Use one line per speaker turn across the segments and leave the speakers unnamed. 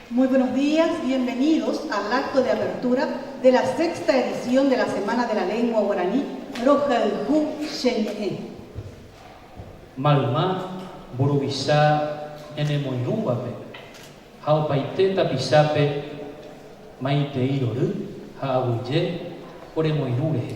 Muy buenos días, bienvenidos al acto de apertura de la sexta edición de la Semana de la Lengua Guaraní Rohayhu che ñe'ẽ. Mayma, mburuvicha ñanemoirũvape ha opaite tapichápe maitei rory ha aguyje oremoirũ rehe.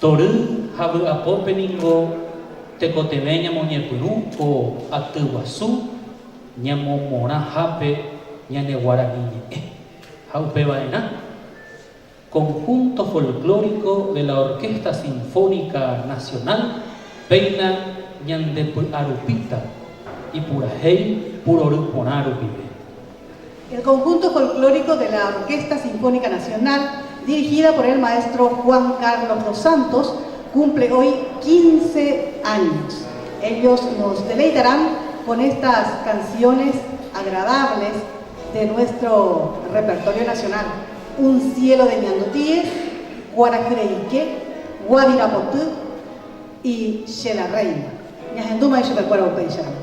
Tory ha vy'apópe ningo tekotevẽ ñamoñepyrũ ko aty guasu ñamomorãhápe ñane guarani ñe'ẽ ha upeva'erã Conjunto Folclórico de la Orquesta Sinfónica Nacional péina ñandepy'arupíta ipurahéi purory porã rupive. El conjunto folclórico de la Orquesta Sinfónica Nacional, dirigida por el maestro Juan Carlos dos Santos, cumple hoy quince años. Ellos nos deleitarán con estas canciones agradables de nuestro repertorio nacional, Un cielo de ñandutíes, Guarahyreike, Guavira poty y Che la reina. Ñahendúma ichupekuéra upéicharamo.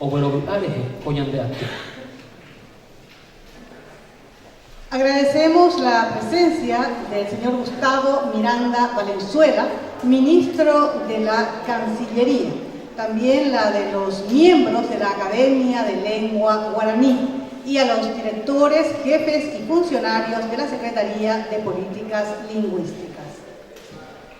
oguerovy'a rehe ko ñande aty. Agradecemos la presencia del señor Gustavo Miranda Valenzuela, Ministro de la Cancillería, también la de los miembros de la Academia de Lengua Guaraní y a los directores, jefes y funcionarios de la Secretaría de Políticas Lingüísticas.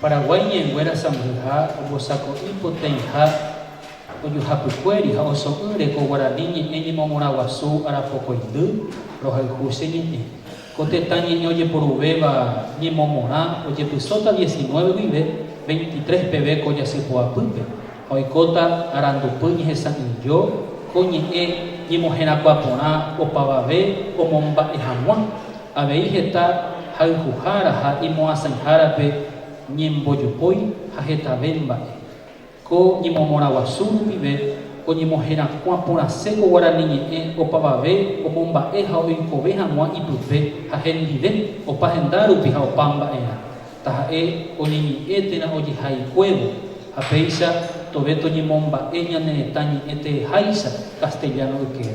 Paraguái ñe'ẽnguéra sãmbyha ombosako'i potãiha ojuhapykuéri ha oso'ỹ reko guarani ñe'ẽ ñemomorãguasu arapokõindy rohayhu che ñe'ẽ. Ko tetã ñe'ẽ ojeporuvéva ñemomorã ojepysóta diecinueve guive, veintitrés peve ko jasypoapýpe, ha oikóta arandupy ñehesa'ỹijo ko ñe'ẽ ñemoherakuã porã opavave omomba'e hag̃ua. Avei heta hayhuhára ha imoasãihárape ñembojopói ha hetave mba'e. Ko ñemomorãguasu rupive oñemoherakuã porãse ko guarani ñe'ẽ opavave omomba'e ha oikove hag̃ua ipype ha hendive, opa henda rupi ha opa mba'erã, taha'e oñeñe'ẽ térã ojehaikuévo, ha péicha tove toñemomba'e ñane retã ñe'ẽ tereháicha castellano ykére.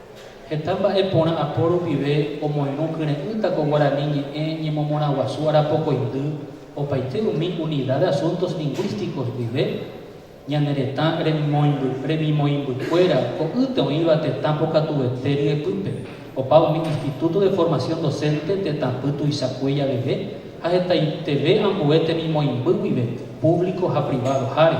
Heta mba'e porã apo rupive omoirũ kyre'ỹta ko guarani ñe'ẽ ñemomorãguasu arapokõindy opaite umi Unidad de Asuntos Lingüísticos guive, ñane retã remimoĩmbykuéra ko'ýte oĩva tetã pokatuete ryepýpe, opa umi Instituto de Formación Docente tetãpy tuichakue javeve ha hetaiteve ambue temimoĩmby guive, público ha privado-háre.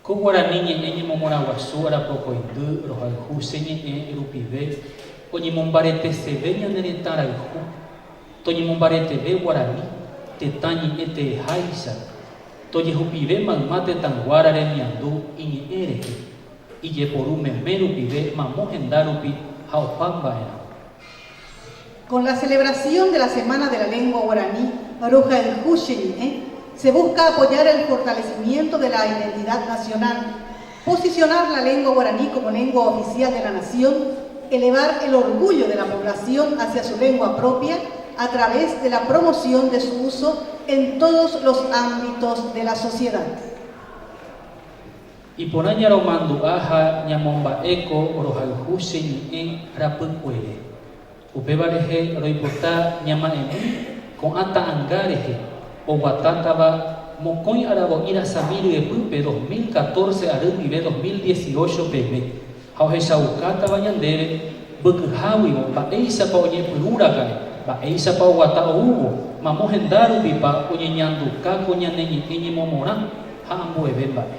Ko guarani ñe'ẽ ñemomorãguasu arapokõindy rohayhu che ñe'ẽ rupive oñemombareteseve ñane retã rayhu. Toñemombareteve guarani, tetã ñe'ẽ tereháicha. Tojehupive mayma tetãnguára remiandu iñe'ẽ rehe, ijeporu meme rupive mamo henda rupi ha opa mba'erã. Con la celebración de la Semana de la Lengua Guaraní rohayhu che ñe'ẽ se busca apoyar el fortalecimiento de la identidad nacional, posicionar la lengua guaraní como lengua oficial de la nación, elevar el orgullo de la población hacia su lengua propia a través de la promoción de su uso en todos los ámbitos de la sociedad. Iporã ñaromandu'a ha ñamomba'éko rohayhu che ñe'ẽ rapykuere, Upéva rehe roipota ñama'ẽmi ko'ã ta'anga rehe oguatátava mokõi aravo'i rasami ryepýpe dos mil catorce ary ndive dos mil dieciocho peve ha ohechaukátava ñandéve mbykyháguivo mba'éichapa oñepyrũ raka'e, mba'éichapa oguata oúvo, mamo henda rupipa oñeñanduka ko ñane ñe'ẽ ñemomorã ha ambueve mba'e.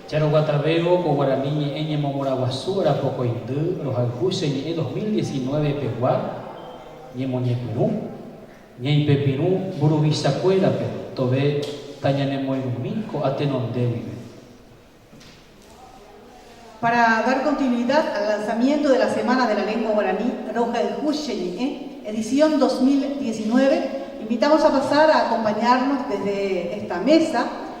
Jaroguatavérõ ko guarani ñe'ẽ ñemomorãguasu arapokõindy rohayhu che ñe'ẽ 2019 pegua ñemoñepyrũ, ñaipepirũ mburuvichakuérape tove tañanemoirũmi ko'a tenonde guive. Para dar continuidad al lanzamiento de la Semana de la Lengua Guaraní Rohayhu che ñe'ẽ, edición 2019, invitamos a pasar a acompañarnos desde esta mesa,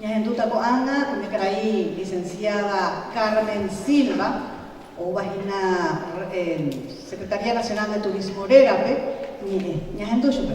Ñahendúta ko'ág̃a umi karai lisensiáda Carmen Silva, ouvahína Secretaría Nacional de Turismo rérape ñe'ẽ. Ñahendu chupe.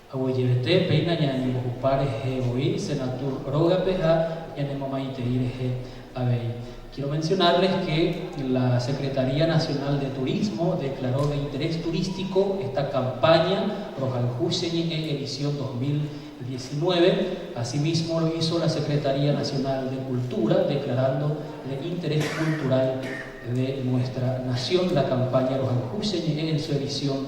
Haguejevete, péina ñañembohupa rehe voi Senatur rógape ha ñanemomaitei rehe avei. Quiero mencionarles que la Secretaría Nacional de Turismo declaró de interés turístico esta campaña Rohayhu che ñe'ẽ edición 2019, asimismo lo hizo la Secretaría Nacional de Cultura declarando de interés cultural de nuestra nación la campaña Rohayhu che ñe'ẽ en su edición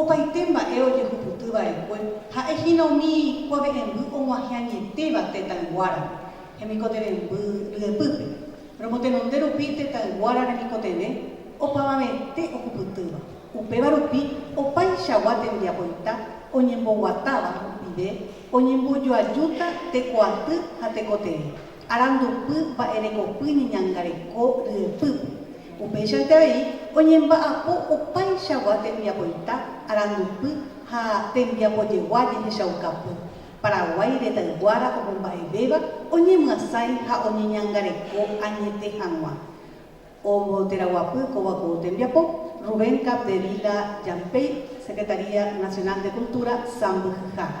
Opaite mba'e ojehupyty va'ekue ha'e hína umi kuave'ẽmby og̃uahẽ añetéva tetãyguára hemikotevẽmby ryepýpe. Romotenonde rupi tetãyguára remikotevẽ opavavete ohupytýva, upéva rupi opaichagua tembiapoita oñemboguatáva rupive oñembojoajúta tekoaty ha tekotevẽ. Arandupy mba'erekopy ñeñangareko ryepýpe. Upéichante vai oñemba'apo opaichagua tembiapoita arandupy ha tembiapojegua jehechaukapy. Paraguái retãyguára omomba'evéva oñemyasãi ha oñeñangareko añete hag̃ua. Omboteraguapy kóva ko tembiapo, Rubén Capdevila Jampey, Secretaría Nacional de Cultura, Sãmbyhyhára.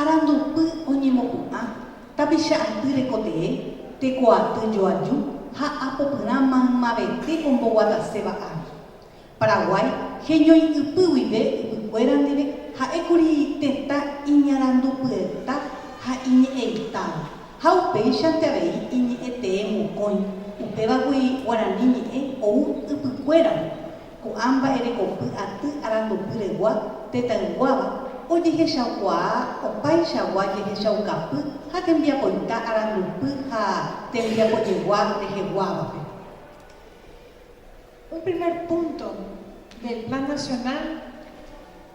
Arandupy oñemopu'ã, tapicha aty rekotee, teko aty joaju ha apopyrã maymavete omboguataséva ári. Paraguái heñoi'ypy guive ypykuéra ndive ha'ékuri tetã iñarandupyeta ha iñe'ẽitáva, ha upéichante avei iñe'ẽtee mokõi, upévagui guarani ñe'ẽ ou ypykuérare, Ko'ã mba'erekopy aty arandupyregua tetãyguáva ojehechaukuaa opaichagua jehechaukapy ha tembiapoita arandupy ha tembiapojegua reheguávape. Un primer punto del Plan Nacional.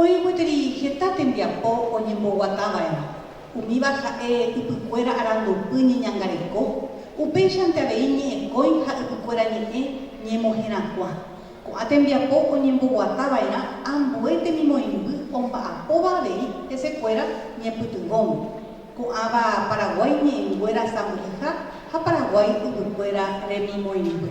Oĩ gueteri heta tembiapo oñemboguatava'erã, umíva ha'e ypykuéra arandupy ñeñangareko, upéichante avei ñe'ẽkõi ha ypykuéra ñe'ẽ ñemoherakuã. Ko'ã tembiapo oñemboguatava'erã ambue temimoĩmby omba'apóva avei hesekuéra ñepytyvõme, ko'ãva Paraguái ñe'ẽnguéra sãmbyhyha ha Paraguái yvykuéra remimoĩmby.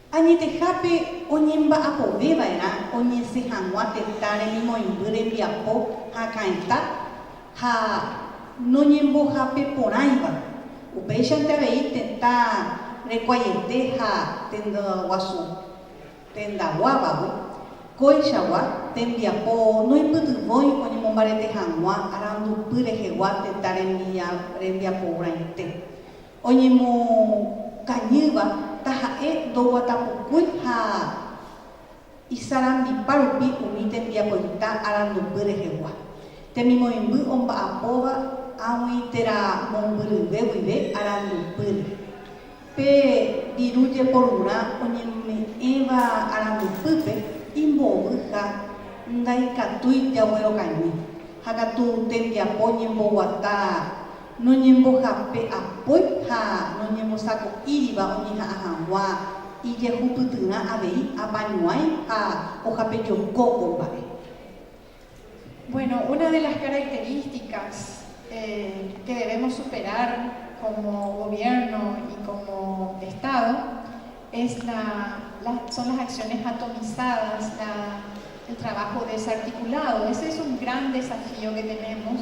Añetehápe oñemba'apove va'erã oñesẽ hag̃ua tetã remimoĩmby rembiapo hakãita ha noñembohape porãiva. Upéichante avei tetã rekuaiete ha tendaguasu tendaguávagui, kóichagua tembiapo noipytyvõi oñemombarete hag̃ua arandupy rehegua tetã rembiaporãite. Oñemokañýva taha'e ndoguatapukúi ha isarambipa rupi umi tembiapoita arandupy rehegua. Temimoĩmby omba'apóva ag̃ui térã mombyryve guive arandupýre. Pe viru jeporurã oñeme'ẽva arandupýpe imbovy ha ndaikatúi jaguerokañy ha katu tembiapo ñemboguata noñembohape'apói ha noñembosako'íriva oñeha'ã hag̃ua ijehupytyrã avei apañuãi ha ohapejoko ko mba'e. Bueno, una de las características que debemos superar como gobierno y como estado es la las son las acciones atomizadas, la el trabajo desarticulado, ese es un gran desafío que tenemos.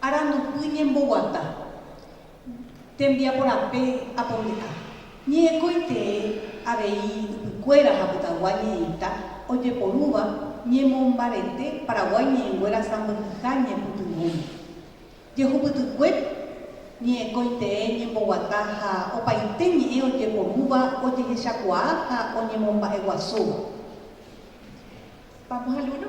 Arandupy ñemboguata. Tembiaporape aponde'a. Ñe'ẽkói tee avei ypykuéra ha pytagua ñe'ẽita ojeporúva ñemombarete Paraguái ñe'ẽnguéra sãmbyhyha ñepytyvõme. Jehupytykue ñe'ẽkói tee ñemboguata ha opaite ñe'ẽ ojeporúva ojehechakuaa ha oñemomba'eguasúva. Vamos al uno.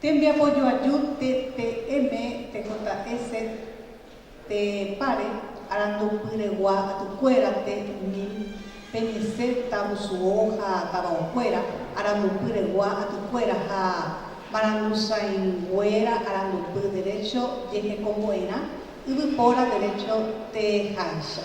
Tembiapo joaju TTM tekota'e set pe páre arandupyregua atykuéra te mil pe ñese tavusuo ha tavaokuéra arandupyregua atykuéra ha marangusãinguéra arandupy derecho jehekombo'erã yvypóra derecho teháicha.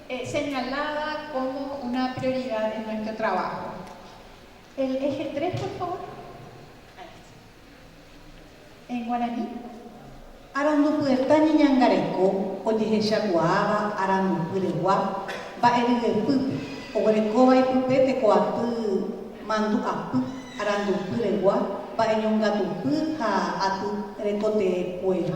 señalada como una prioridad en nuestro trabajo. El eje tres, por favor. En guaraní. Arandupyeta ñeñangareko ojehechakuaáva arandupyregua mba'eryepýpe, oguerekóva ipype tekoaty mandu'apy arandupyregua mba'eñongatupy ha aty rekotee kuéra.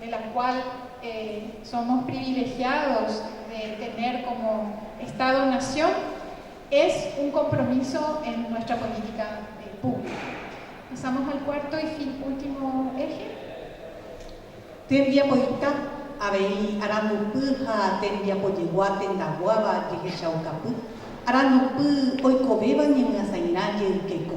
de la cual somos privilegiados de tener como Estado nación, es un compromiso en nuestra política pública. Pasamos al cuarto y fin último eje. Tembiapoita, avei arandupy ha tembiapojegua tendaguáva jehechaukapy, arandupy oikovéva ñemyasãirã jeykéko.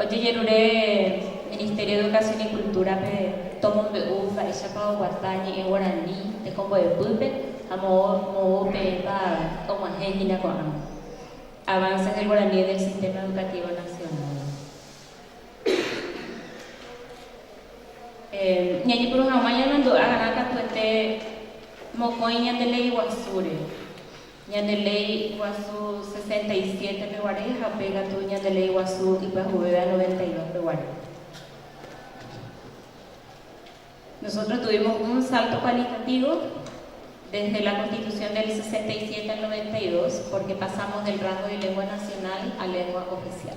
Ojejerure Ministerio de Educación y Cultura-pe tomombe'u mba'éichapa oguata ñe'ẽ guarani tekombo'epýpe ha moõ moõ peẽpa og̃uahẽ hína ko'ã Avances del Guaraní en el Sistema Educativo Nacional. Ñajepuru hag̃ua ñarandu'a rã katuete mokõi ñande Ley Guasúre. Ñande léi guasu sesenta y siete peguare ha pe katu ñande léi guasu ipyahuveve noventa y dos peguare. Nosotros tuvimos un salto cualitativo desde la Constitución del sesenta y siete al noventa y dos porque pasamos del rango de lengua nacional a lengua oficial.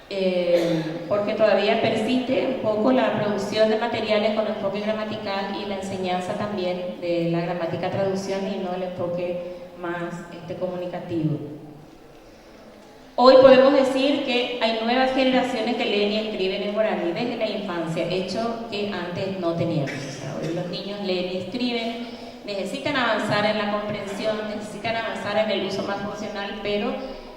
Pórke tovavia persiste un póko la produksión de materiales kon enfóke gramatikál i la enseñánsa también de la gramátika traduksión i no el enfóke más komunikativo. Hoy podemos decir ke hay nuevas generaciones ke leen i eskriben en guaraní desde la infancia, hecho ke antes no teníamos. O sea, hoy los niños leen i eskriben, necesitan avanzar en la comprensión, necesitan avanzar en el uso más funcional, pero,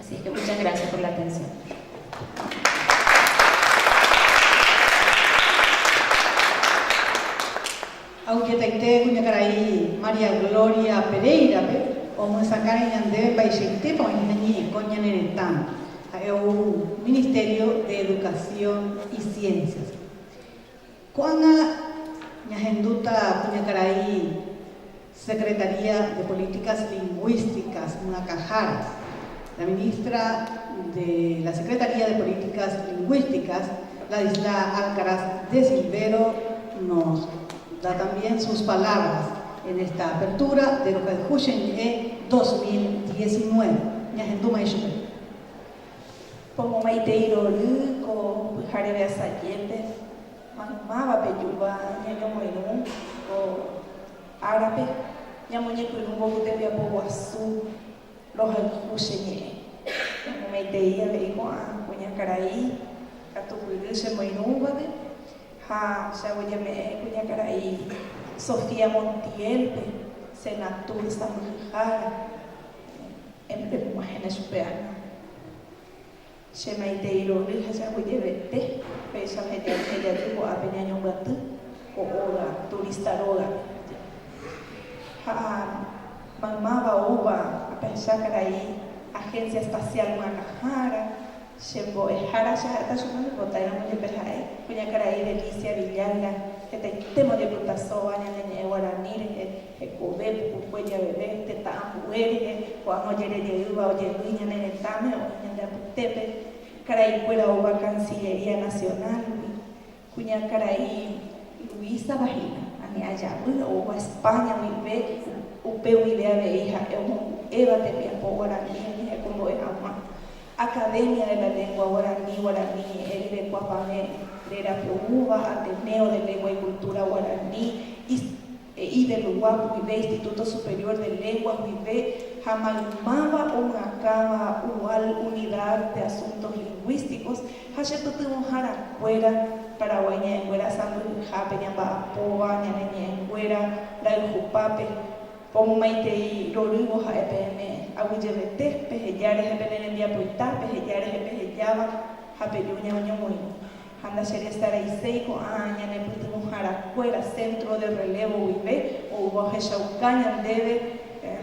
Asi es que muchas gracias por la atención. Ha oiketaite kuñakarai María Gloria Pereira-pe omyesakãre ñandéve mba'eichaitépa oĩ hína ñe'ẽkõ ñane retãme, ha'e ou Ministerio de Educación y Ciencias-pe. Ko'ág̃a ñahendúta kuñakarai Secretaría de Políticas Lingüísticas Myakãhára, la ministra de la Secretaría de Políticas Lingüísticas, Ladislaa Alcaraz de Silvero, nos da también sus palabras en esta apertura de Rohayhu Che Ñe'ẽ 2019. Ñahendúmai chupe. Pomomaitei rory ko pyhareve asajépe, maymáva pe júva ñañomoirũ ko árape, ñamoñepyrũ mboy tembiapo guasu rohayhu che ñe'ẽ. Pomomaitei avei ko'ã kuñakarai katupyry che moirũvape ha che aguejeme'ẽ kuñakarai Sofía Montiel-pe, Senatur sãmbyhyhára, embyrepu'ãhẽne chupe ág̃a. Che maitei ro'y ha jaguyevete péicha oheñe'ẽme jaty ko'ápe ñañombyaty ko óga turista rógape. Ha maymáva oúva apensa karai Agencia Espacial G̃uakãhára, che mbo'ehára cheha'éta chupe oñembotáiramo jepe ha'e, kuñakarai Delicia Villalga, hetaitéma ojepytasóva ñane ñe'ẽ guarani rehe. Hekove pukukue javeve tetã ambu'e rire, ko'ág̃a ojerejeýva ojevy ñane retãme oĩ ñande apytépe, karaikuéra oúva Cancillería Nacional-gui, kuñakarai Luisava hína, ani ajavy oúva España guive, upe guive avei ha'e omohu'éva tembiapo guarani umi hekombo'e hag̃ua Academia de la Lengua Guarani, Guarani Ñe'ẽ Rerekuapavẽ, rerapoúva Ateneo de Lengua y Cultura Guarani, He'i Bellois guive Instituto Superior de Lenguas guive ha maymáva omyakãva UAL, Unidad de Asuntos Lingüísticos, ha che pytyvõhára kuéra, Paraguái ñe'ẽnguéra sãmbyhyhápe ñamba'apóva ñane ñe'ẽnguéra rayhupápe, ko momaitei rorývo ha'e peẽme, aguyjevete, peheja rehe pene rembiapoita, peheja rehe pehejáva ha peju ñañomoirũ. Ha ndacheresaraiséi ko'ã ñanepytyvõharakuéra centro de relevo guive oúva ohechauka ñandéve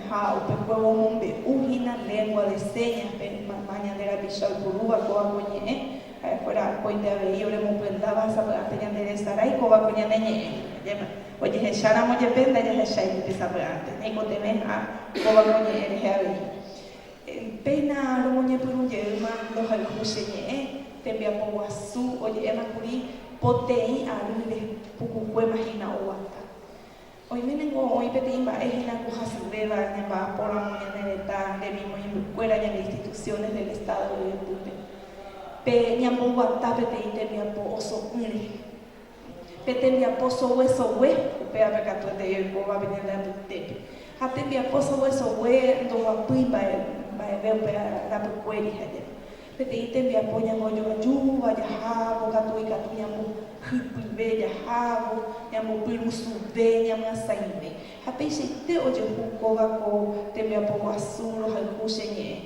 ha upekuévo omombe'u hína lengua de señas-pe mayma ñande rapicha oipurúva kóva ko ñe'ẽ ha'ekuéra akóinte avei oremopyendáva ha sapy'ánte ñanderesarái kóva ko ñane ñe'ẽ. Ñañe'ẽma ojehecháramo jepe ndajahechái ni tesapy'ánte ñaikotevẽ ha kóva ko ñe'ẽ rehe avei. Péina romoñepyrũ jeýma ndohayhu che ñe'ẽ, tembiapo guasu oje'éma kuri poteĩ arỹre pukukuéma hína oguata. Oime ningo oĩ peteĩ mba'e hína ko hasyvéva ñamba'apo ramo ñane retã nde rimo imbykuéra ñane instituciones del Estado ryeguepýpe. Pe ñamboguata peteĩ tembiapo oso'ỹre. Pe tembiapo soguesogue, upévape katu etei oikóva pe ñande apytépe. Ha tembiapo soguesogue ndoguapýi mba'e, mba'eve upe rapykuéri ha jave. Peteĩ tembiapo ñambojoa ajúva jahávo katu ikatu ñambohypyve jahávo, ñambopyrusuve, ñamyasãive. Ha peichaite ojehu kóva ko tembiapo guasu rohayhu che ñe'ẽ.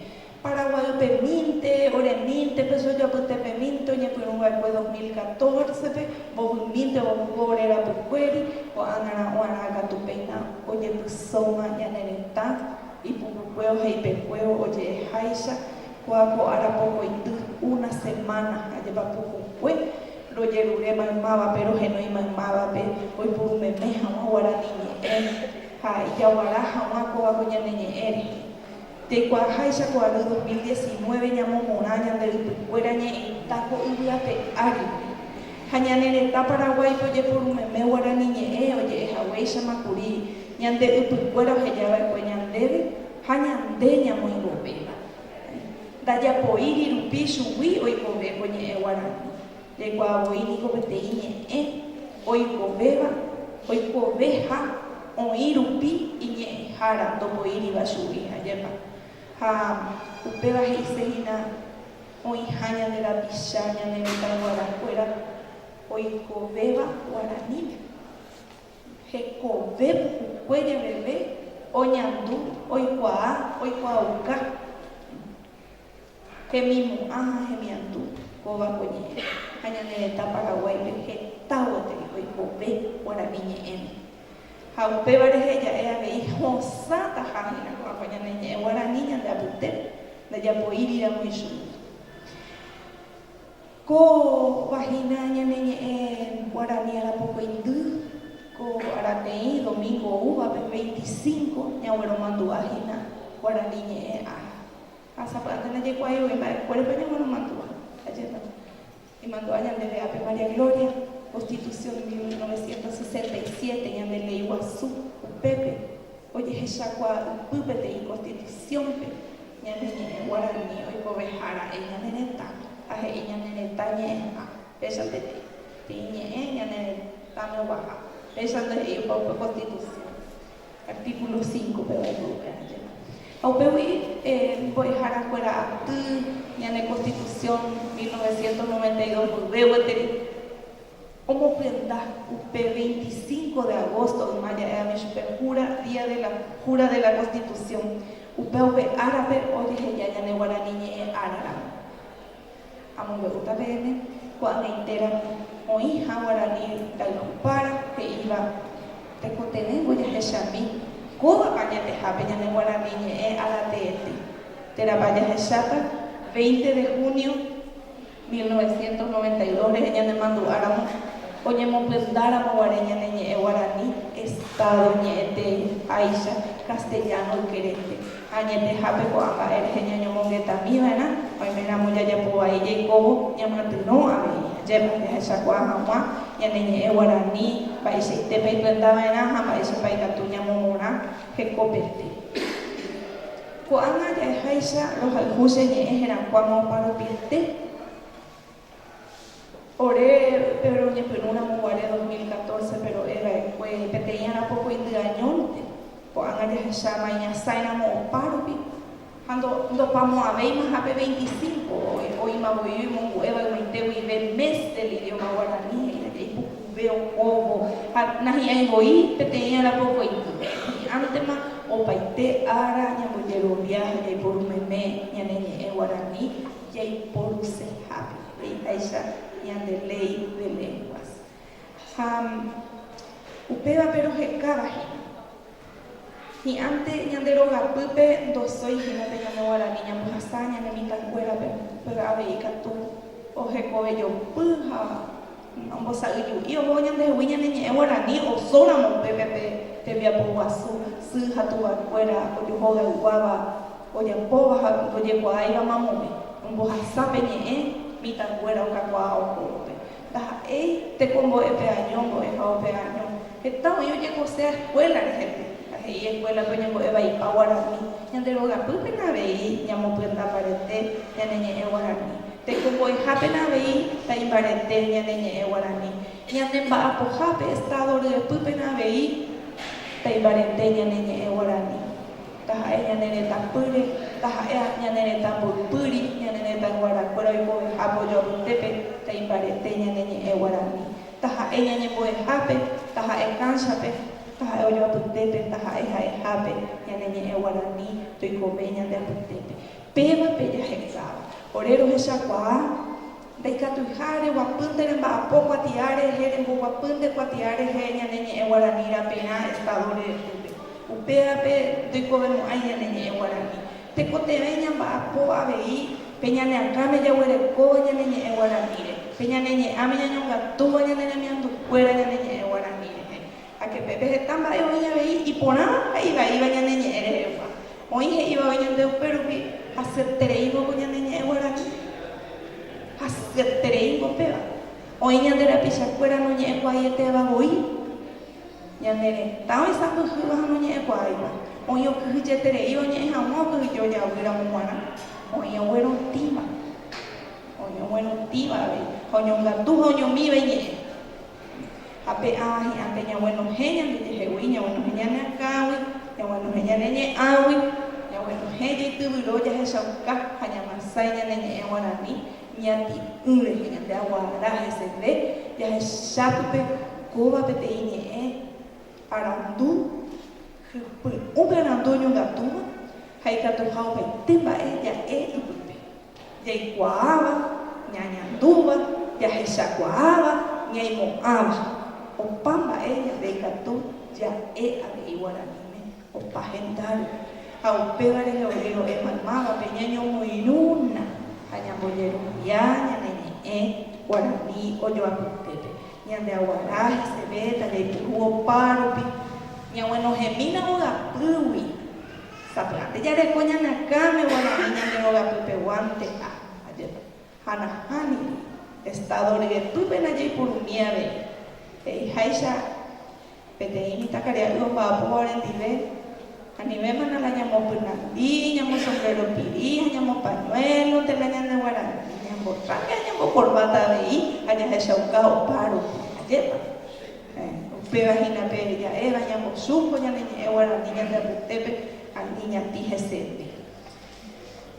Paraguaýpemínte, oremínte, pe so japytépemínte oñepyrũ va'ekue dos mil catorce-pe, mbovymínte opu'o ore rapykuéri, ko'ág̃arã oarã katu péina ojepysóma ñane retã, ipukukue oheipekuévo oje'eháicha, ko'a ko ára pokoity, una semana ha jepa pukukue, rojerure maymávape, rohenói maymávape, oipuru meme hag̃ua guarani ñe'ẽ ha ijaguara hag̃ua kóva ko ñane ñe'ẽ rehe. Tekoaháicha ko ary 2019 ñamomorã ñande ypykuéra ñe'ẽta ko yvy ape ári. Ha ñane retã Paraguáipe ojeporu meme guarani ñe'ẽ oje'e haguéichama kuri ñande ypykuéra oheja va'ekue ñandéve ha ñande ñamoĩvovéva. Ndajapoíri rupi chugui oikove ko ñe'ẽ guarani. Reikuaa voi niko peteĩ ñe'ẽ oikovéva oikoveha oĩ rupi iñe'ẽhára ndopoíriva chugui, ajépa. Ha upéva he'ise hína oĩha ñande rapicha ñane retãyguarakuéra oikovéva guaranípe. Hekove pukukue jeveve oñandu oikuaa oikuaauka. Hemimo'ã ha hemiandu, kóva ko ñe'ẽ, ha ñane retã Paraguáipe heta gueteri oikove guarani ñe'ẽme. Ha upéva rehe ja'e avei hosãtaha hína ko'ãva ñane ñe'ẽ guarani ñande apyte ndajapoíriramo ichugui. Kóva hína ñane ñe'ẽ guarani arapokoindy, ko arateĩ domingo oúvape veinticinco ñagueromandu'a hína guarani ñe'ẽ ára. Ha sapy'ánte ndajekuaái voi mba'ekuérepa ñamonomandu'a. Ajépa imandu'a ñandéve ápe María Gloria? Constitución de mil novecientos sesenta y siete, ñande léi guasu, upépe ojehechakuaa ypy peteĩ Constitución-pe ñane ñe'ẽ guarani oikoveha ra'e ñane retãme, ha he'i ñane retã ñe'ẽha, péicha peteĩ, peteĩ ñe'ẽ ñane retãme oguaha, péicha ndohe'i opa upe Constitución. Artículo cinco péva ipy'ukuéra jeýma. Ha upégui mbo'ehára kuéra aty ñane Constitución mil novecientos noventa y dos mboyve gueteri omopyenda upe veinticinco de agosto yma ja'évami chupe jura día de la jura de la Constitución upévpe árape ojeheja ñane guarani ñe'ẽ ára ramo. Amombe'úta peẽme ko'ag̃aitéramo oĩha guarani ndaikupára he'íva tekotevẽvo jahechami kóva añetehápe ñane guarani ñe'ẽ ára teete. Térãpa jahecháta 20 de junio mil novecientos noventa y dos rehe ñanemandu'áramo oñemopyndáramo guare ñane ñe'ẽ guarani Estado ñe'ẽtei háicha castellano ykerénte. Añetehápe ko'ã mba'e rehe ñañomongetami va'erã, oime ramo jajapo vai jaikóvo ñamatyrõ avei. Ajépa, jahechakuaa hag̃ua ñane ñe'ẽ guarani, mba'eichaitépa ikuenta va'erã ha mba'éichapa ikatu ñamomorã hekopete. Ko'ág̃a ja'eháicha rohayhu che ñe'ẽ herakuãma oparupiete. Ore péro oñepyrũramo guare dos mil catorce-pe ro'e va'ekue peteĩ arapokõindy añónte, ko'ág̃a jahecháma iñasãiramo opa rupi, ha ndopamo'ãvéimaha pe veinticinco, oĩma voi oimongu'e va'ekuaite guive Mes del Idioma Guaraní he'íva jaipukuve okóvo ha nahi'ãi voi peteĩ arapokõindy. Hi'ãntema opaite ára ñambojerovia ha jaiporu meme ñane ñe'ẽ guaraní. jaiporusehápe, he'iháicha ñande Ley de Lenguas. Ha upévape rohekáva hína. Hi'ãnte ñande rogapýpe ndosói hína pe ñane Guarani ñambohasa ñane mitãkuérape, pe avei katu ohekovejopy ha Ombosa'yju'i ohóvo ñandehegui ñane ñe'ẽ guarani osóramo upépe pe tembiapo guasu sy ha tuvakuéra ojohogayguáva ojapóva ha ndojekuaáiva mamove ombohasa pe ñe'ẽ mitãnguéra okakuaa ohóvope. Ndaha'éi tekombo'e pe año mbo'e ha ope año Heta oĩ ojekosea eskuéla rehépe ha he'i eskuélape oñembo'evaipa guarani. Ñande rogapýpena avei ñamopyendambarete ñane ñe'ẽ guarani. Tekombo'ehápena avei taimbarete ñane ñe'ẽ guarani. Ñande mba'apohápe, Estado ryepýpena avei taimbarete ñane ñe'ẽ guarani. Taha'e ñane retãpýre, taha'e ñane retã mboypýri, ñane retãyguarakuéra oikovehápe ojoapytépe taimbarete ñane ñe'ẽ guarani. Taha'e ñañembo'ehápe, taha'e kánchape, taha'e ojoapytépe, taha'e ha'ehápe, ñane ñe'ẽ guarani, toikove ñande apytépe. Pévape jahe'sáva. Ore rohechakuaa, ndaikatuiha reguapýnte remba'apo kuatia rehe, remboguapýnte kuatia rehe ñane ñe'ẽ guarani raperã Estado-re rýpe. Upévape ndoikovemo'ãi ñane ñe'ẽ guarani. Tekotevẽ ñamba'apo avei pe ñane akãme jaguerekóva ñane ñe'ẽ guaranĩre, pe ñane ñe'ãme ñañongatúva ñane remiandukuéra ñane ñe'ẽ guarani rehe. Ha kepepe heta mba'e oĩ avei iporãva ha ivaíva ñane ñe'ẽ rehegua. Oĩ he'ivave ñande upérupi, Hasyetereíngo ko ñane ñe'ẽ guarani. Hasyetereíngo péva. Oĩ ñande rapichakuéra noñe'ẽkuaaietevavoi. Ñane retã oisãmbyhýva ha noñe'ẽkuaáiva, oĩ okyhyjetereíva oñe'ẽ hag̃ua okyhyje ojavy ramo g̃uarã, oĩ oguerotĩva, oĩ oguerotĩva avei, ha oñongatu ha oñomíva iñe'ẽ. Ha pe ã hi'ãnte ñaguenohẽ ñandejehegui, ñaguenohẽ ñane akãgui, ñaguenohẽ ñane ñe'ãgui, ñaguenohẽ jeityvyro jahechauka ha ñamasái ñane ñe'ẽ guarani, Ñati'ỹ rehe ñande aguara heseve jahecha pype kóva peteĩ ñe'ẽ arandu, hypy'ũme arandu oñongatúva ha ikatuha opaite mba'e ja'e ipype, jaikuaáva, ñañandúva, jahechakuaáva, ñaimo'ãva. Opa mba'e ñande ikatu ja'e avei Guaraníme. Opa hendápe, ha upévare ñaojero'éma mávape ñañomoirũna ha ñambojerovia ñane ñe'ẽ guarani ojoapytépe. Ñande aguara hesevéta jaipuru opárupi ñaguenohẽmína vogapýgui. Sapy'ánte jareko ñane akãme guarani ñande vogapypeguánte ha ajépa. Ha nahã ningo Estado ryepýpe najeipurumíi avei, he'iháicha peteĩ mitãkaria'y omba'apóva orendive, anivéma na la ñamopyrandi, ñamosombrero piri ha ñamopañuélonte, la ñande guarani, ñambotráke ha ñambokorbáta avei, ha jahechauka opa rupi. Ajépa? Héẽ, upéva hína pe ja'éva ñambosúko ñane ñe'ẽ guarani ñande apytépe ani ñati hesépe.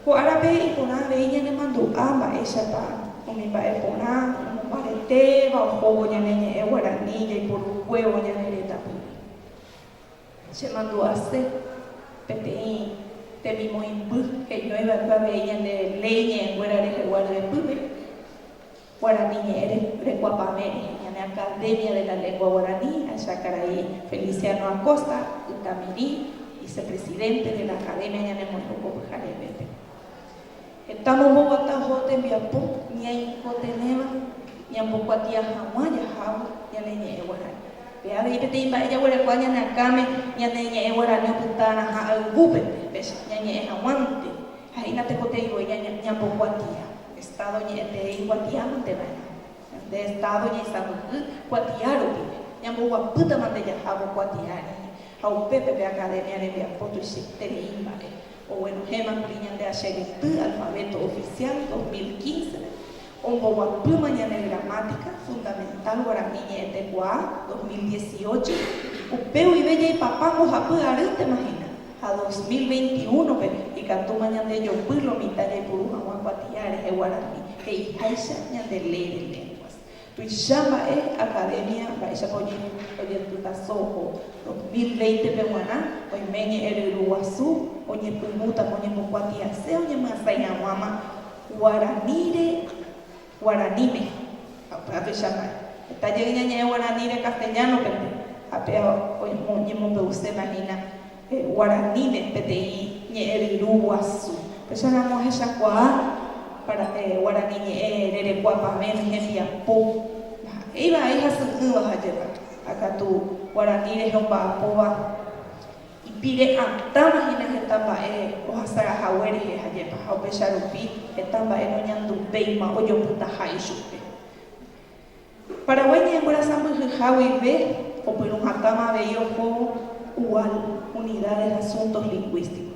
Ko árape iporã avei ñanemandu'a mba'éichapa umi mba'e porã omombaretéva ohóvo ñane ñe'ẽ guarani jaiporukuévo ñane retãpy. Chemandu'ase peteĩ temimoĩmby heñóiva'ekue avei ñande léi ñe'ẽkuéra rehegua ryepýpe. Guarani ñe'ẽ rekuapavẽ rehe ñane Academia de la Lengua Guarani, ahecha karai Feliciano Acosta Ytamiri, vicepresidente de la Academia ñanemoĩruko pyharevépe. Heta momboguata oho tembiapo ñaikotevẽva ñambokuatia hag̃ua jahávo ñane ñe'ẽ guarani. Pe avei peteĩ mba'e jaguerekua ñane akãme ñane ñe'ẽ guarani opytárã ha ayvúpe péicha ñañe'ẽ hag̃uánte. Ha'e natekotevẽ voi ñambokuatia Estado ñe'ẽtei kuatia mante va'erã. Nde Estado ñaisãmbyhy kuatia rupi, ñamboguapýtama nde jahávo kuatia rire, ha upépe pe Academia rembiapo tuichaiterei mba'e. Oguenohẽma kuri ñande Acheguyty Alfabeto Oficial dos mil quince-pe, Omboguapýma ñane gramática fundamental guarani ñe'ẽtekuaa dos mil dieciocho, upe guive jaipapa mbohapy arýntema hína, ha dos mil veintiúnope ikatúma ñandejopy lomitã jaipuru hag̃ua kuatia rehe guarani, he'iháicha ñande Ley de Lenguas. Tuicha mba'e, Academia mba'éichapa ojetytaso oho dos mil veintepe g̃uarã, oime ñe'ẽryru guasu oñepyrũta oñembokuatiase oñemyasãi hag̃uáma, Guaranire, guaraníme, ha upéva tuichamba'e. Heta jey ñañe'ẽ guaranire castellano-pente, ha péva oñemombe'uséma hína guaraníme peteĩ ñe'ẽ ryru guasu. Péicha ramo ohechakuaa guarani ñe'ẽ rerekua pavẽ ni hembiapo, ndaha'éi vai hasy'ỹva ha jepa, ha katu guarani reheomba'apóva. Ipire'atãva hína heta mba'e ohasara hague rehe ajépa, ha upéicha rupi heta mba'e noñandu upéima ojopytaha ichupe. Paraguái ñanemborasa mbyhyha guive opyrũ hatãma avei oho UAL, Unidad del Asuntos Lingüísticos.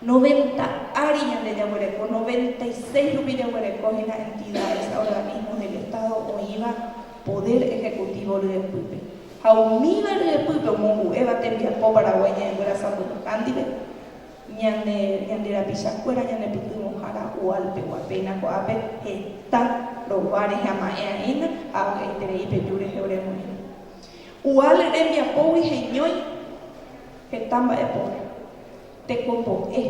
Noventa ári ñande jaguereko, noventa y seis rupi jaguereko hína entidades, organismos del Estado oĩva poder ejecutivo ryepýpe. Ha umíva ryepýpe omongu'éva tembiapo Paraguái ñaĩkuéra sãmbyhyha ndive, ñane, ñande rapichakuéra ñanepytyvõhára Hualpegua. Péina ko'ápe heta rova rehe ama'ẽ aína ha avy'aiterei peju rehe ore moĩva. Hual rembiapógui heñói heta mba'e póra. Tekopo'e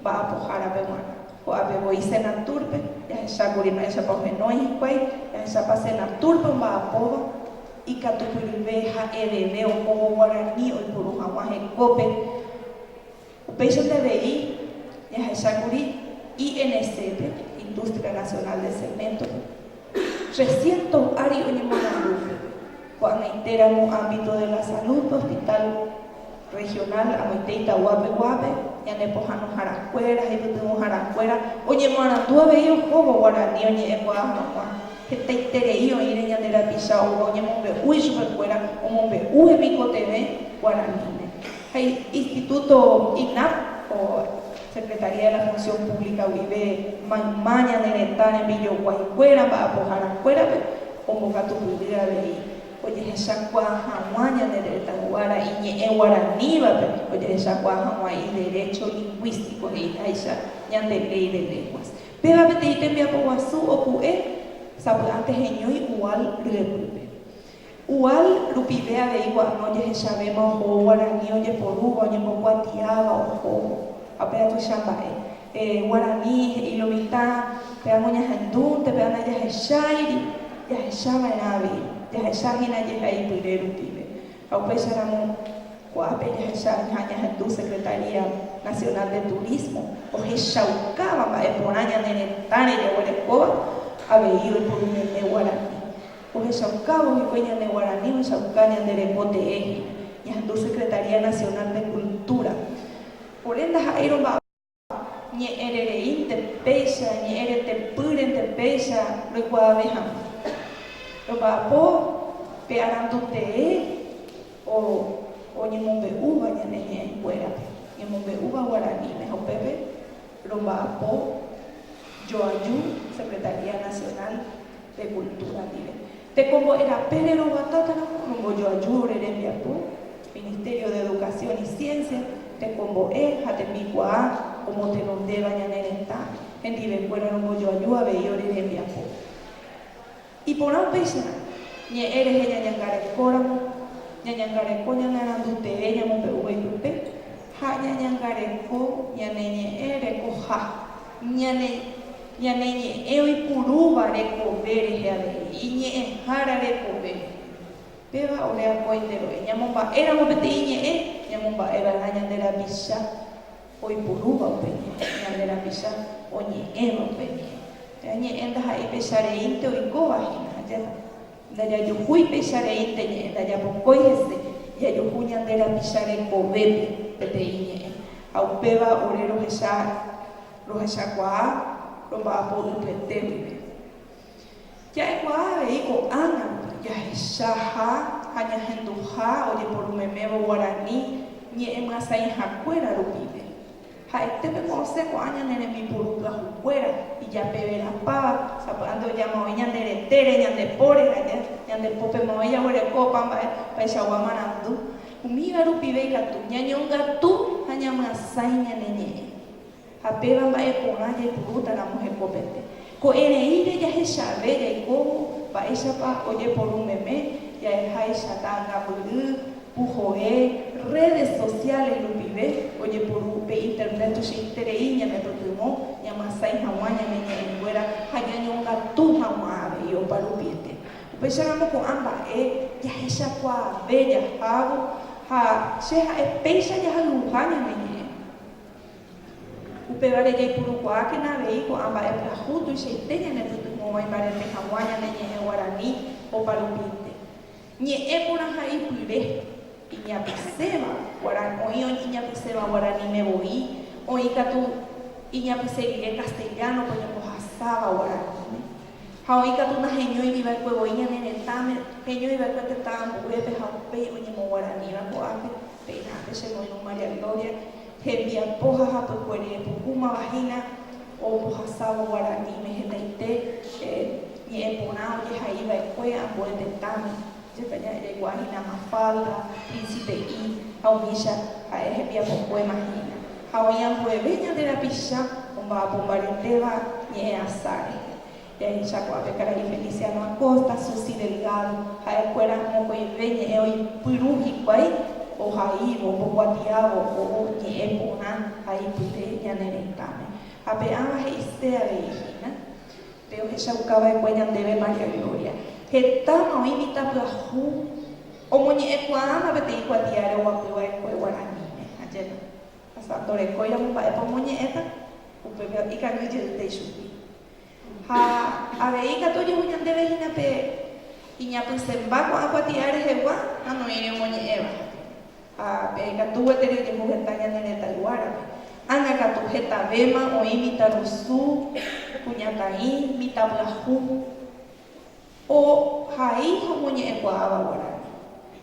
mba'apohárape g̃uarã. Ko'ápe voi Senatúrpe jahechákuri mba'éichapa ohenói hikuái, jahechápa Senatúrpe omba'apóva, ikatupyryve ha'eveve ohóvo guarani oiporu hag̃ua hekópe. Upéichante avei jahechákuri INC-pe, Industria Nacional de Cemento-pe. Che siénto ári oñemorandu ko'ag̃aitéramo ámbito de la salud hospital regional amoite itaguápe guápe, ñane pohãnoharakuéra, jeipytyvõharakuéra, oñemoarandu avei ohóvo guarani oñe'ẽkuaa hag̃ua, hetaiterei oĩre ñande rapicha oúva oñemombe'u ichupekuéra omombe'u hemikotevẽ guaraníme ha instituto INAP o Secretaría de la Función Pública guive mayma ñane retã rembijoguaikuéra mba'apoharakuérape ombokatupyry avei ojehechakuaa hag̃ua ñane retãguára iñe'ẽ guaranívape ojehechakuaa hag̃ua iderecho lingvístico he'iháicha ñande Ley de Lenguas. Péva peteĩ tembiapoguasu opu'e sapy'ánte heñói Ual ryepýpe. Igual rupive avei gua'no ojehechavéma ohóvo guarani ojeporúva, oñembokuatiáva ohóvo. Ha péa tuicha mba'e. Guarani he'i lo mitã, péa noñahendúnte, péa ndajahecháiri. Jahecha va'erã avei. Jahecha hína jehai pyre rupive. Ha upéicha ramo, ko'ápe jahecha hína ñahendu Secretaría Nacional de Turismo ohechaukáva mba'e porã ñane retãre jaguerekóva avei oiporu meme guarani. Ohechaukávo hikuái ñane guarani ohechauka ñande reko teéhe, ñahendu Secretaría Nacional de Cultura. Ore ndaha'éirõ mba'apo ñe'ẽrereínte péicha, ñe'ẽretepýrente péicha roikuaave hag̃ua. Romba'apo pe arandu tee o oñemombe'úva ñane ñe'ẽnguérape, ñemombe'úva guaraníme ha upépe romba'apo joaju Secretaría Nacional. pe kultúra ndive. Tekombo'e rape reroguatátarõ rombojoaju ore rembiapo, Ministerio de Educación y Ciencia, tekombo'e ha tembikuaa omotenondéva ñane retã hendivekuéra rombojoaju avei ore rembiapo. Iporã upéicharõ, ñe'ẽ rehe ñañangarekóramo, ñañangareko ñanarandu tee ñamombe'úva ipype ha ñañangareko ñane ñe'ẽ rekoha. Ñane ñane ñe'ẽ oipurúva rekove rehe avei, iñe'ẽhára rekove. Péva ore akóinterõi, ñamomba'éramo peteĩ ñe'ẽ, ñamomba'e va'erã ñande rapicha oipurúva upe ñe'ẽ, ñande rapicha oñe'ẽva upe ñe'ẽ. Ñe'ẽ ndaha'éi pecha reínte oikóva hína, ha jahasa. Ndajajuhúi péicha rei pe ñe'ẽ ndajapokói hese, jajuhu ñande rapicha rekovépe peteĩ ñe'ẽ, ha upéva ore rohecha rohechakuaa romba'apo ypyete guive. Ja'ekuaa avei ko'ág̃a rupi jahechaha ha ñahenduha ojeporu memévo guarani ñe'ẽmyasãihakuéra rupive. Ha'ete pembo'ose ko'ã ñane rembipuru pyahukuéra, ijapeverapáva, sapy'ánte ojamave ñande retére, ñande póre ha ja, ñande pópe mave jaguereko opa mba'e opaichagua marandu. Umíva rupive ikatu, ñañongatu ha ñamyasãi ñane ñe'ẽ. Ha péva mba'e porã jaipurúta ramo hekopete. Ko'ẽreíre jahechave jaikóvo mba'éichapa ojeporu meme ja'eháicha ta'ãngambyry, puhoe, redes sociales rupive ojeporu upe internet tuichaiterei ñanepytyvõ ñamyasãi hag̃ua ñane ñe'ẽnguéra ha ñañongatu hag̃ua avei oparupiete. Upéicharamo ko'ã mba'e jahechakuaave jahávo ha che ha'e péicha jahayhuha ñane ñe'ẽ. Upévare jaipurukuaákena avei ko'ã mba'e pyahu tuichaite ñanepytyvõguái mbarete hag̃ua ñane ñe'ẽ guarani oparupínte. Ñe'ẽ porãha ipyre, iñapysẽva guarani, oĩ iñapysẽva guaraníme voi, oĩ katu iñapysẽ rire castellano-pe oñembohasáva guaraníme. Ha oĩ katu naheñóigui va'ekue voi ñane retãme, heñói va'ekue tetã ambuépe ha upéi oñemoguaraníva ko'ápe. Péinápe che moirũ María Gloria, hembiapo ha hapykuéri epuhúmava hína ombohasávo guaraníme hetaite ñe'ẽ porã ojehai va'ekue ambue tetãme, jepe jaikuaa hína Mafalda, Príncipe I ha umícha ha'e hembiapokuéma hína, ha oĩ ambueve ñande rapicha omba'apombaretéva ñe'ẽ asa rehe. Terechakuaape karai Feliciano Acosta, Susi Delgado, ha'ekuéra mokõive ñe'ẽ oipyru hikuái ohaívo, ombokuatiávo ou ñe'ẽ porã ha ipype ñane retãme. Ha pe'ãva he'ise avei hína pe ohechaukava'ekue ñandéve María Gloria. Hetáma oĩ mitã pyahu omoñe'ẽkuaáma peteĩ kuatiáre oguapyva'ekue guaraníme. Ajépa. Asa ndorekóiramo mba'épa omoñe'ẽta, upépe ikangýjeýta ichupe. Ha avei ikatu ojehu ñandéve hína pe iñapysẽmba ko'ã kuatia'a rehegua ha noĩre omoñe'ẽva. Ha pe ikatu gueteri ojehu heta ñane retãyguárape. Ág̃a katu, hetavéma oĩ mitãrusu, kuñakaĩ, mitãpyahu. Ohai ha omoñe'ẽkuaáva guarani.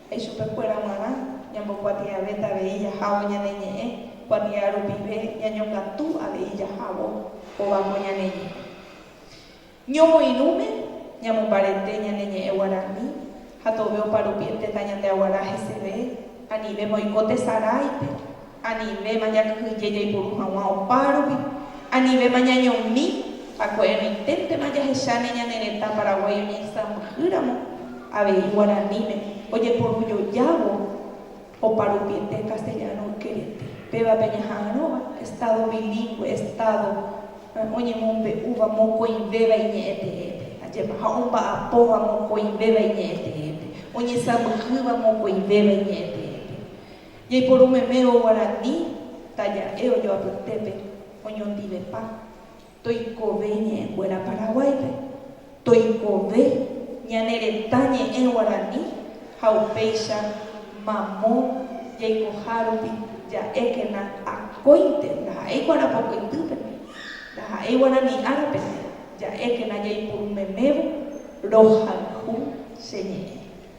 Ha ichupekuéra g̃uarã ñambokuatiavéta avei jahávo ñane ñe'ẽ kuatia rupive ñañokatu avei jahávo kóva ko ñane ñe'ẽ. Ñomoirũme ñamombarete ñane ñe'ẽ guarani ha tove oparupi'e tetã ñandeaguara heseve anive moiko tesaráipe. Anivéma jakyhyje jaiporu hag̃ua opárupi, anivéma ñañomi ha ko'ẽrõiténtema jahecháne ñane retã Paraguái oñeisãmbyhýramo avei guaraníme ojeporujojávo oparupiete castellano ykerete. Pévape ñaha'arõva Estado bilingüe, Estado oñemombe'úva mokõivéva iñe'ẽteépe, ajépa, ha omba'apóva mokõivéva iñe'ẽteépe, oñesãmbyhýva mokõivéva iñe'ẽteépe. Jaiporu memérõ guarani taja'e ojoapytépe oñondivepa toikove iñe'ẽnguéra Paraguáipe, toikove ñane retã ñe'ẽ guarani ha upéicha mamo jaikoha rupi ja'ékena akóinte ndaha'éi kuarapokoitýpene, ndaha'éi guarani árapene ja'ékena jaiporu memévo rohayhu che ñe'ẽ.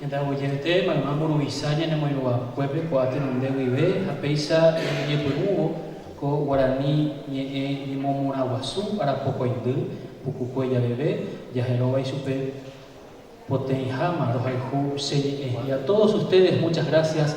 Ñande Aguiye'ẽte, mayma mburuvicha ñanemoirũvakuépe ko'ã tenonde guive ha péicha ñañepyrũvo ko guarani ñe'ẽ ñemomorãguasu arapokõindy pukukue javeve, jaheróva ichupe potẽiháma rohayhu che ñe'ẽ. Y a todos ustedes muchas gracias.